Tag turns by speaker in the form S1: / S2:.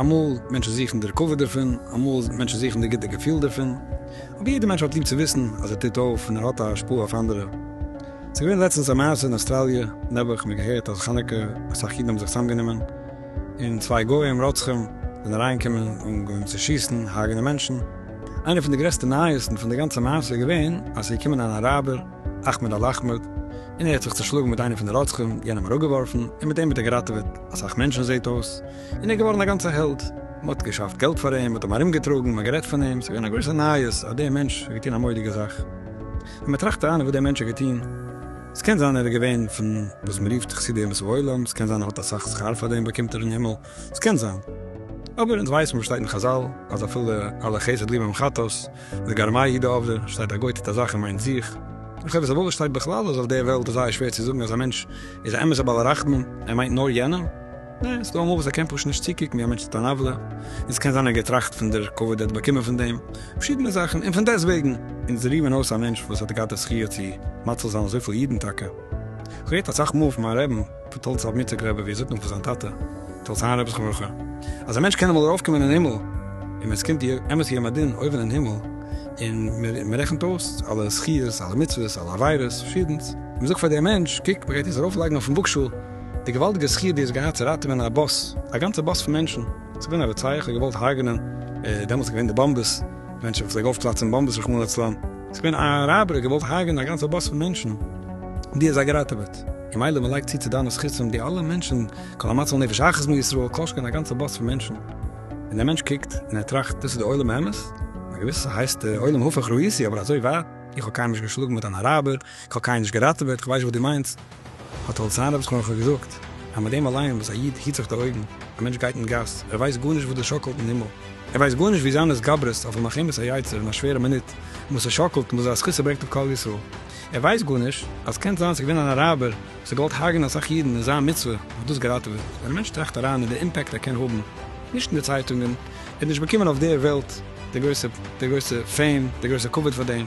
S1: אמאל מענטשן זוכן דער כבוד דערפון, אמאל מענטשן זוכן דער גוטער געפיל דערפון, אבער יעדער מענטש האט ליב צו וויסן אז ער טוט אויף און ער האט א השפעה אויף אנדערע. ס'איז געווען לעצטנס א מעשה אין אוסטראליע, נעבעך, מיר געהערט אז חנוכה אסאך אידן האבן זיך צוזאמגענומען און צוויי גוים רוצחים זענען אריינגעקומען און געווען צו שיסן, הרג'נען מענטשן. איינע פון די גרעסטע נייעסן פון די גאנצע מעשה איז געווען אז ס'איז געקומען אן אראבער, אכמעד אל אחמעד, און ער האט זיך צושלאגן מיט איינע פון די רוצחים, יענעם אראפגעווארפן, און מיט דעם האט ער געראטעוועט אסאך מענטשן זעהט אויס. און ער איז געווארן א גאנצע העלד, מען האט געשאפט געלט פאר אים, מען האט אים ארומגעטראגן, מען האט גערעדט פון אים, עס איז געווען א גרויסע נייעס אז דער מענטש האט געטון א מודיגע זאך. ווען מען טראכט אריין אין וואס דער מענטש האט געטון, עס קען זיין ער איז געווען פון וואס מען רופט חסידי אומות העולם, עס קען זיין ער האט אסאך שכר פאר דעם באקומט ער אין הימל, עס קען זיין, אבער אונז ווייסן וואס שטייט אין חזל, אז אפילו על החסד ליבם חטאת, וגרמה היא דעובדא, שטייט א גוי טוט א זאך און מיינט זיך, און חובת עוולה שטייט בכלל אז אויף דער וועלט איז זייער שווער צו זאגן אז א מענטש איז א אמת'ער בעל הרחמים, ער מיינט נאר יענעם. ניין, ס'דא אמאל וואס ער קען פשוט נישט צוקוקן ווי א מענטש טוט אן עוולה, און ס'קען זיין ער האט געטראכט פון דער כבוד ער האט באקומען פון דעם, פארשידענע זאכן, און פון דעסטוועגן. אונז זרעמען אויס א מענטש וואס האט געהאט די זכיה צו מציל זיין אזויפיל אידן טאקע. כ'האב געהערט אסאך מאל פון מיין רעבן, פון טאלץ רב מוצק רעבע ווי ער זאגט נאך פון זיין טאטע, טאלץ היין רעב'ס חנוכה, אז א מענטש קען אמאל ארויף קומען אין הימל, און ווען ס'קומט די אמת יום הדין אויבן אין הימל, און מען רעכנט אויס אלע זכיות, אלע מצוות, אלע עבירות, פארשידענס, און מען זאגט פאר דעם מענטש, קוק, מען גייט דיר ארויף לייגן אויפן וואגשאל, די געוואלדיגע זכי' די האסט געהאט צו ראטעווען א באס, א גאנצע באס פון מענטשן, ס'איז געווען א רוצח האט געוואלט הרג'נען, דעמאלטס איז געווען די באמבעס, מענטשן וואס פלעג אויפפלאצן באמבעס רחמנא לצלן, ס'איז געווען א ראבערי האט געוואלט הרג'נען א גאנצע באס פון מענטשן, די האסט זיי געראטעוועט, און מילא מ'לייגט צו צו דיינע זכותים די אלע מענטשן, כל המציל נפש אחת מישראל, כל שכן א גאנצע באס פון מענטשן, און דער מענטש קוקט און ער טראכט דאס איז די עולם האמת? א געוויסע הייסט עולם הפך ראיתי אבער אזוי ווייט, איך האב קיינעם נישט געשלאגן מיט אן אראבער, כ'האב קיינעם נישט געראטעוועט, כ'ווייס נישט וואס דו מיינסט, האט די הוצאה רב'ס חנוכה געזאגט, אז מיט דעם אליין וואס א איד היט זיך די אויגן, א מענטש גייט אין גאס, ער ווייסט גארנישט וואס דאס שאקלט אין הימל, ער ווייסט גארנישט ווי זיין התגברות אויף מלחמת היצר אין א שווערע מינוט, און וואס עס שאקלט און וואס זיין זכות עס ברענגט אויף כלל ישראל, ער ווייסט גארנישט אז קען זיין ס'איז געווען אן אראבער וואס האט געוואלט הרג'ענען אסאך אידן און זיין מצוה האט דאס געראטעוועט, ווען א מענטש טראכט אריין אין די אימפעקט ער קען האבן, נישט אין די צייטונגען, ער האט נישט באקומען אויף דער וועלט די גרויסע די גרויסע פעים, די גרויסע כבוד פאר דעם,